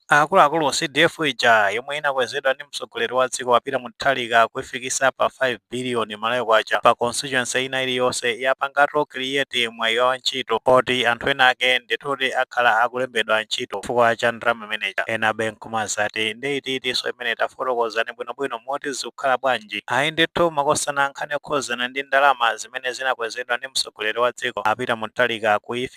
Akuluakulu, CDF ija yomwe inakwezedwa ndi mtsogoleri wa dziko a Peter Mutharika kuifikisa pa 5 billion Malawi Kwacha pa constituency ina iliyonse yapangatu create mwayi wa ntchito poti anthu ena ake ndithudi akhala akulembedwa ntchito chifukwa cha ndalama imeneija. Enabe nkumazati nde iti itinso imene tafotokozani bwino bwino moti zikukhala bwanji. Ayi ndithu makosana nkhani yokhuzana ndi ndalama zimene zinakwezedwa ndi mtsogoleri wa dziko a Peter Mutharika kuif.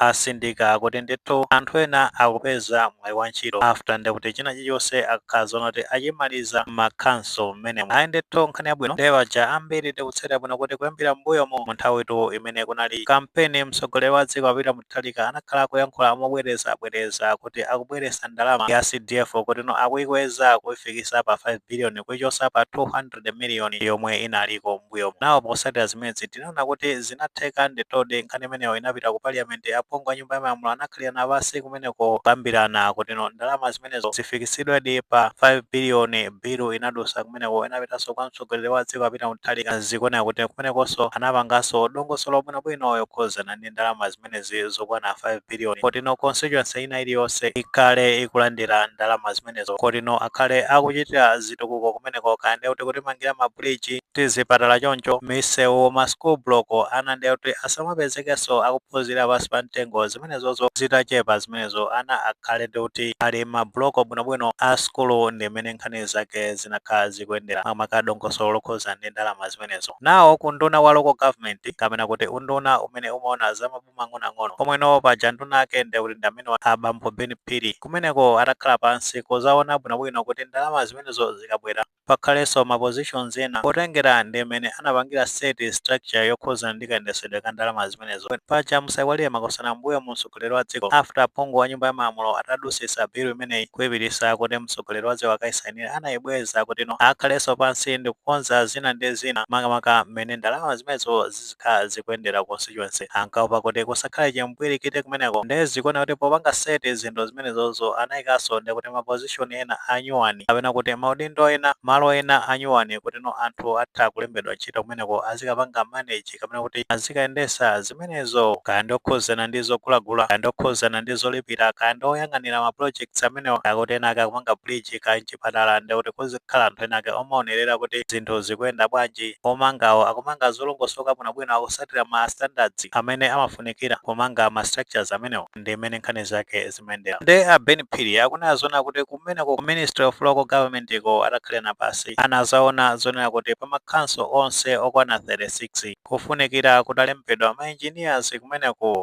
Atsindika kuti ndithu anthu ena akupeza mwayi wa ntchito after nde kuti china chilichonse akakhala zoti kuti achimaliza mmakhonsolo mmenemo. Ayi ndithu nkhani yabwino. Nde paja ambiri tikutsatira bwino kuti kuyambira mmbuyomu mu nthawitu imene kunali kampeni mtsogoleri wa dziko a Peter Mutharika anakhala akuyankhula mobwerezabwereza kuti akubweretsa ndalama ya CDF kutino akuyikweza kuyifikisa pa 5 billion kuyichosa pa 200 million yomwe inaliko mmbuyomu. Now potsatira zimenezi Tinaona kuti zinatheka. Ndithudi, nkhani imeneyo inapita ku Paliyamenti. Aphungu a Nyumba ya Malamulo anakhalirana pansi kumeneko kukambirana kutino ndalama zimenezo zifikitsidwedi pa 5 biliyoni. Bilu inadutsa kumeneko, inapitanso kwa mtsogoleri wa dziko, a Peter Mutharika. Zikuoneka kuti kumenekonso anapanganso dongosolo bwinobwino yokhudzana ndi ndalama zimenezo. zimenezi zokwana 5 biliyoni kutino constituency ina iliyonse ikhale ikulandira ndalama zimenezo kutino akhale akuchitira zitukuko kumeneko kaya ndiye kuti kutimangira mabuliji tizipatala choncho misewu ma school block ana ndiye kuti asamapezekenso akuphunzirira pansi pa mtengo zimenezozo zitachepa zimenezo ana akhale ndi kuti ali mmabuloko bwinobwino a sukulu ndi mmene nkhani zake zinakhala zikuyendera makamaka dongosolo lokhuza ndi ndalama zimene zimenezo. Now ku nduna wa local government kapena kuti unduna umene umaona za maboma ang'onoang'ono komwe now paja nduna ake ndiye kuti ndi amene wa a bambo Ben Phiri. Kumeneko atakhala pansi kuzaona bwinobwino kuti ndalama zimenezo zikabwera pakhalenso ma positions ena potengera ndi mmene anapangira set structure yokhudzana ndi kayendetsedwe ka ndalamazi. zimenezo. Paja musaiwalire makosana mmbuyomu mtsogoleri wa dziko after aphungu wa nyumba ya malamulo atadusisa bill imeneyi kuipitisa kuti mtsogoleri wa dziko akaisainire anaibweza kutino akhalenso pansi ndikukonza zina ndi zina makamaka mmene ndalama zimenezo zizikhala zikuyendera ku constituency. Ankaopa kuti kusakhale chimpwirikiti kumeneko nde zikuoneka kuti popanga set zinthu zimenezozo anaikanso nde kuti ma position ena anyuwani kapena kuti maudindo ena, malo ena anyuwani kutino anthu atha kulembedwa ntchito kumeneko azikapanga manage. ndi kapena kuti azikayendesa zimenezo kaya ndi okhudzana ndi zogulagula kaya ndi okhudzana ndi zolipira kaya ndi oyang'anira ma projects amenewa kaya kuti ena ake akumanga bridge kaya mchipatala ndi kuti kuzikhala anthu ena ake omaonerera kuti zinthu zikuyenda bwanji omangawo akumanga zolongosoka bwinobwino akusatira ma standards amene amafunikira kumanga ma structures amenewo ndi mmene nkhani zake zimayendera nde a Ben Phiri akunena zona kuti kumeneko ku Ministry of Local Government iko atakhalirana pansi anazaona zonena kuti pa makhanso onse okwana 36 kufunikira kutalembedwa ma engineers kumeneko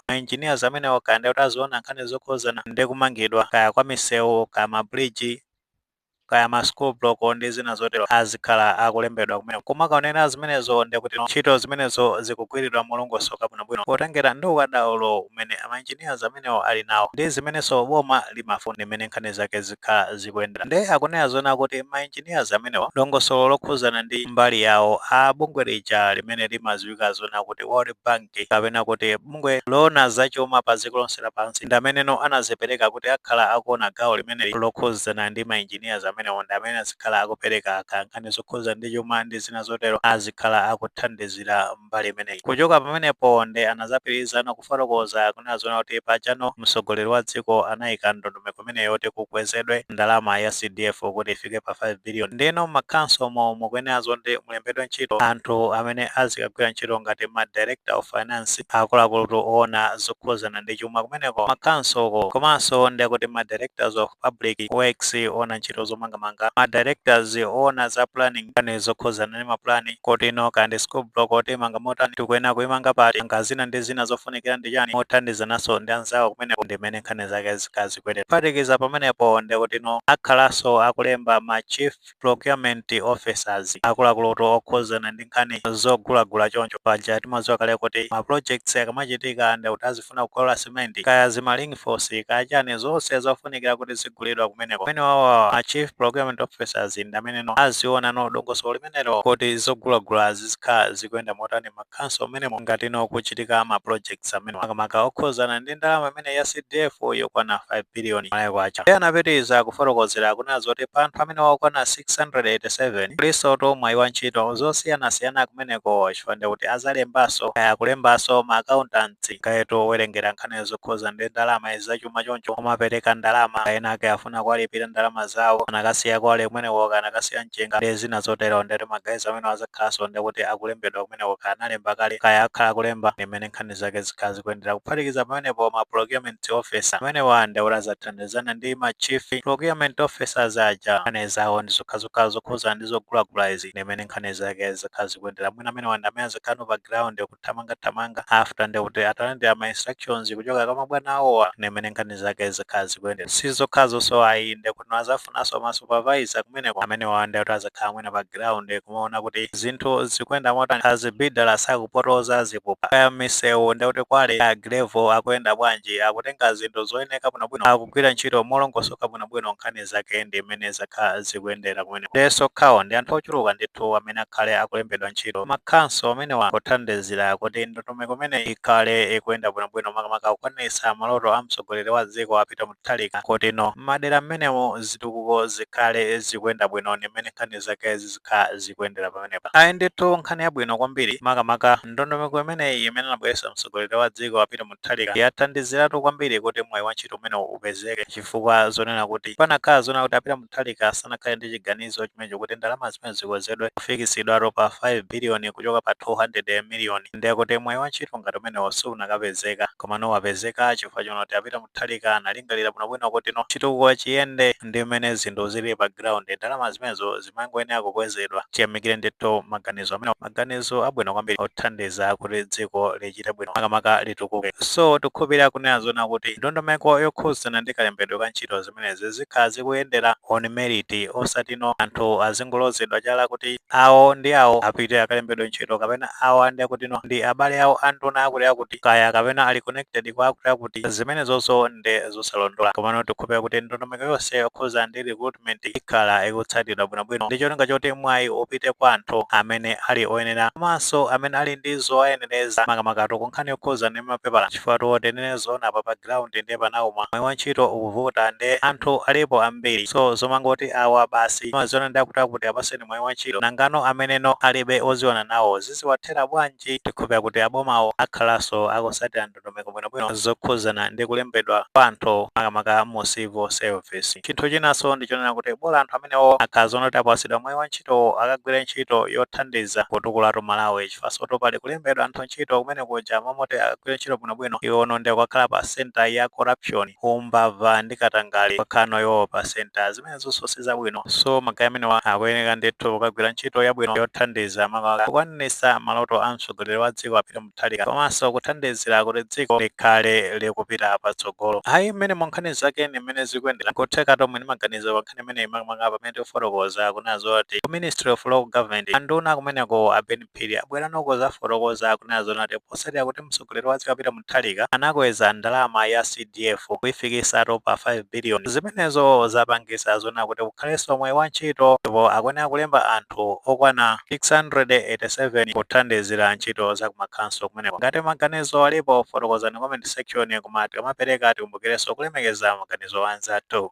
ma engineers amenewo kaya ndi kuti aziona nkhani zokhuzana ndi kumangidwa kaya kwa misewu kaya ma bridge kaya ma school block ndi zina zotero azikhala akulembedwa kumeneko kumakaonera zimenezo ndi kuti ntchito zimenezo zikugwiridwa molongosoka bwinobwino potengera ndi ukadaulo umene ma engineers amenewo ali nawo ndi zimenenso boma limafuna ndi mmene nkhani zake zikhala zikuyendera. Ndiye akunena zoona kuti ma engineers amenewa dongosolo lokhudzana ndi mbali yawo a bungwe lija limene limadziwika zoona kuti World Bank kapena kuti bungwe loona za chuma pa dziko lonse lapansi ndi ameneno anazipereka kuti akhala akuona gawo limeneli lokhudzana ndi ma engineers amenewo ndi amene azikhala akupereka kaya nkhani zokhudzana ndi chuma ndi zina zotero azikhala akuthandizira mbali imeneyi kuchoka pamenepo nde anazapitirizano kufotokoza kunena zoona kuti pajano mtsogoleri wa dziko anayika ndondomeko imeneyo yoti kukwezedwe ndalama ya CDF kuti ifike pa 5 billion ndeno mmakhansomo mukuyenera zoti mulembedwe ntchito anthu amene azikagwira ntchito ngati ma director of finance akuluakulutu oona zokhuzana ndi chuma kumeneko makhansoko komanso ndekuti ma directors of public works oona ntchito zomangamanga ma directors oona za planning nkhani zokhuzana ndi mapulani kutino kaya ndi school block kuti timanga motani tikuyenera kuimanga pati nanga zina ndi zina zofunikira ndi chani mothandizananso ndi anzawo kumeneko ndi mmene nkhani zake zikhale zikuyendera. Kuphatikiza pamenepo ndekutino akhalanso akulemba ma Chief Procurement Officers, akuluakulutu okhuzana ndi nkhani zogulagula choncho paja timadziwa kale kuti ma projects akamachitika ndekuti azifuna kukaoda cement, kaya zima ring force, kaya chani zonse zofunikira kuti zigulidwa kumeneko amenewawa ma Chief Procurement Officers ndameneno aziwonano dongosolo limenelo kuti zogulagula zizikhala zikuyenda motani ma makhanso mmenemo ngatino kukuchitika ma projects amene makamaka okhuzana ndi ndalama imeneyi ya CDF yokwana 5 billion Malawi kwacha. Iye anapitiriza kufotokozera kunena zoti pa anthu amenewa okwana 687 kulinsotu mwayi wa ntchito zosiyanasiyana kumeneko chifukwa ndi kuti azalembanso kaya kulembanso ma accountants kayatu owerengera nkhani zokhuzana ndi ndalama izi zachuma choncho omapereka ndalama ena ake akufuna kuwalipira ndalama zawo anakasiya kwale kumeneko kaya anakasiya mchenga nde zina zotero nde kuti magayizi amenewa azakhalanso nde kuti akulembedwa kumeneko kaya analemba kale kaya akhala akulemba ndi mmene nkhani zake zikhala zikuyendera kuphatikiza pamenepo ma procurement officer amenewa nde kuti azathandizana ndi ma chief procurement officers aja nkhani zawo ndi zokhazokha zokhudzana ndi zogulagula izi ndi mmene nkhani zake zikhala zikuyendera mwina amenewa ndi amene azakhalano pa ground kuti kuthamanga thamanga after nde kuti atalandira ma instructions kuchoka kwa mabwana awowa ndi mmene nkhani zake zikhala zikuyendera si zokhazonso ayi nde kuti azafunanso ma supervisor kumeneko amenewa nde kuti azakhala mwina pa ground kumaona kuti zinthu zikuyenda motani kaya zibidala sakupotoza zipupa kaya misewu nde kuti kwale a grevo akuyenda bwanji akutenga zinthu zoyeneka bwinobwino akugwira ntchito molongosoka bwinobwino nkhani nkhani zake ndi mmene zakhala zikuyendera kumeneko ndenso si okhawo ndi anthu ochuluka ndithu amene akhale akulembedwa ntchito makhanso amenewa pothandizira kuti ndondomeko imeneyi ikhale ikuyenda bwinobwino makamaka kukwaniritsa maloto a mtsogoleri wa dziko a Peter Mutharika kuti no m'madera mmenemo zitukuko zikhale zikuyenda bwino ndi mmene nkhani zake zizikhala zikuyendera pamenepa ayi ndithu nkhani yabwino kwambiri makamaka ndondomeko imeneyi imene anabweretsa mtsogoleri wa dziko a Peter Mutharika yathandiziratu kwambiri kuti mwayi wa ntchito umenewu upezeke chifukwa zonena kuti panakhala zonena kuti a Peter Mutharika sanakhale ndi chiganizo chimenecho kuti ndalama zimenezo zikwezedwe kufikitsidwatu pa 5 billion kuchoka pa 200 million ndiye kuti mwayi wa ntchito ngati umenewo siunakapezeka komano wapezeka chifukwa chonena kuti a Peter Mutharika analingalira bwinobwino kuti no chitukuko chiyende ndi mmene zinthu zilili pa ground ndalama zimenezo zimangoyenera kukwezedwa tiyamikire ndithu maganizo amene maganizo abwino kwambiri othandiza kuti dziko lichite bwino makamaka litukuke so tikukhulupirira kunena zoona kuti ndondomeko yokhudzana ndi kalembedwe ka ntchito zimenezi zikhala zikuyendera on merit osatino anthu azingolozedwa chala kuti awo ndi awo apite akalembedwe ntchito kapena awo ndi akutino ndi abale awo anduna akuti akuti kaya kapena ali connected kwa akuti akuti zimenezonso ndi zosalondola komano tikhulupira kuti ndondomeko yonse yokhudza ndi recruitment ikhala ikutsatidwa bwinobwino ndi cholinga choti mwayi upite kwa anthu amene ali oyenera komanso amene ali ndi zowayenereza makamakatu ku nkhani yokhudza ndi mapepala chifukwa tiyeni tinene zoona apa pa ground ndiye panauma mwayi wa ntchito ukuvuta ndiye anthu alipo ambiri so zomangoti awa basi amaziwana ndi akuti akuti apaseni mwayi wa ntchito nangano ameneno alibe oziwana nawo ziziwathera bwanji tikhulupira kuti abomawo akhalanso akusatira ndondomeko bwinobwino zokhuzana ndi kulembedwa kwa anthu makamaka mu civil service. Chinthu chinanso ndi chonena kuti bola anthu amenewo akhala zoona kuti apatsidwa mwayi wa ntchitowo akagwire ntchito yothandiza kutukulatu Malawi chifukwansotu pali kulembedwa anthu ntchito kumene kuja m'malo moti akagwire ntchito bwinobwino iwono ndiye kukakhala pa center ya corruption, umbava ndi katangale kukakhalano iwowo pa center. Zimenezonso si zabwino so magayi amenewa akuyeneka ndithu kukagwira ntchito yabwino yothandiza makamaka kukwaniritsa maloto a mtsogoleri wa dziko a Peter Mutharika. Mutharika komanso kuthandizira kuti dziko likhale likupita patsogolo. Ayi, mmenemu nkhani zake ndi mmene zikuyendera, n'kutheka tonse tili ndi maganizo pa nkhani imeneyi makamaka pamene tifotokoza kunena zoona kuti ku Ministry of Local Government anduna kumeneko a Ben Phiri abwerano kudzafotokoza kunena zoona kuti potsatira kuti mtsogoleri wa dziko a Peter Mutharika anakweza ndalama ya C DF kuifikitsatu pa 5 billion zimenezo zapangitsa zoona kuti kukhalenso mwayi wa ntchito ndipo akuyenera kulemba anthu okwana 687 kuthandizira ntchito za kumakhanso kumeneko ngati maganizo alipo fotokozani comment section koma tikamapereka tikumbukirenso kulemekeza maganizo a anzathu.